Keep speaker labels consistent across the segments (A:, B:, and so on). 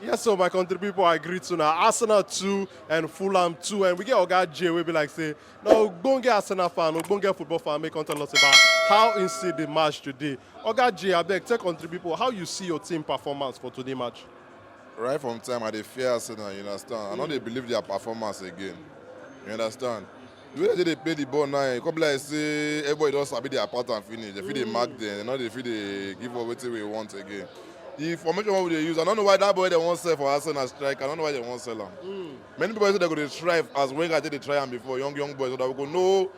A: Yes, so my country people, I greet you now. Arsenal 2 and Fulham 2. And we get Oga J, we be like, say, now, go get Arsenal fan, go get football fan, make content us about how you see the match today. Oga J, I beg, tell country people, how you see your team performance for today match? Right from time, I dey fear Arsenal, you understand? I no dey believe their performance again. You understand? the way dem dey play the ball now e come be like say everybody don sabi their pattern finish dem fit dey mark them dem no dey fit dey give us wetin we want again the formation wey we dey use i no know why that boy dem wan sell for arsenal striker i no know why dem wan sell am mm. many people say dem go dey strive as wenger take dey try am before young young boys so that we go know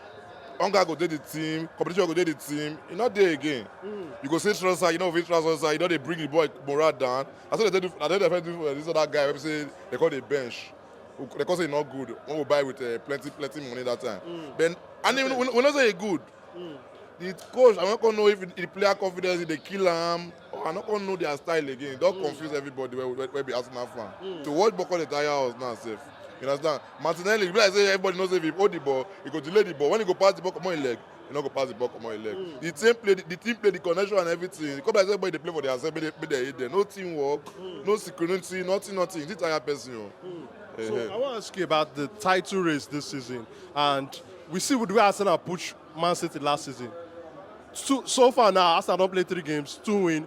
A: hunger go dey the team competition go dey the team e no dey again mm. you go see transfer you no go fit transfer side you don dey bring the boy morale down i say dem dey do i dey defend this other guy wey be say they call the bench we- they come say e no good when we buy with uh, plenty plenty money that time mm. then and even we, we know say e good mm. the coach i no come know if the player confidence dey kill am or i no come know their style again e don mm. confuse everybody wey wey, wey be arsenal fan mm. to watch boko dey tire us now sef you understand martinelli be like say everybody know say if he hold the ball he go delay the ball when he go pass the ball comot him leg e no go pass the ball comot him leg mm. the team play the, the team play the connection and everything come like say everybody dey play for their side make they make they hate them no team work mm. no security nothing nothing this tire person o. Oh. Mm. Uh-huh. so eh. i wan ask you about the title race this season and we see the way arsenal push man city last season so, so far now arsenal don play three games two win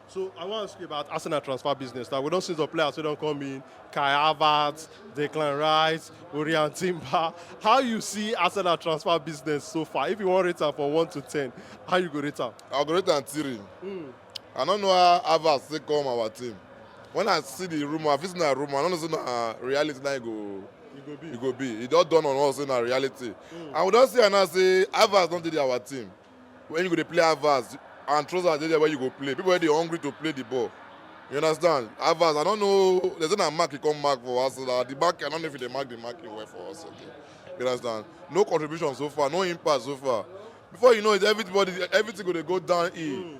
A: So I wan ask you about Arsenal transfer business. Now we don see some players wey don come in, Kai Havertz, Declan Rice, Orian Timber. How you see Arsenal transfer business so far? If you wan rate am from one to ten, how you go rate am? I go rate am three. Mm. I no know how Havertz take come our team. When I see the rumour, I fit say na rumour. I no know say na reality na e go You go be. e go be. E don dawn on us say na reality. And we don see am now say Havertz don dey our team. When you go dey play Havertz and Trossard dey there where you go play. People wey dey hungry to play the ball. You understand? Havertz, I don't know. They say na mark he come mark for us. Uh, the mark, I don't know if he dey mark the mark he well for us. Okay. You understand? No contribution so far, no impact so far. Before you know it, everybody, everything go dey go downhill.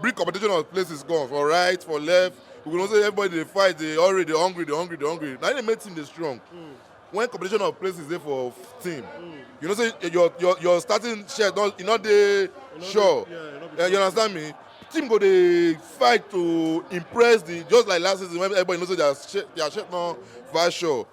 A: Bring competition of places come for right, for left. We go know say everybody dey fight, dey hurry, dey hungry, dey hungry, dey hungry. Na im dey make team dey strong. Mm. When competition of places dey for team, mm. you know say your your your starting shirt don e no dey sure. Dey, yeah, no uh, you understand me? Team go dey fight to impress the just like last season when everybody know say their shirt their shirt no for sure.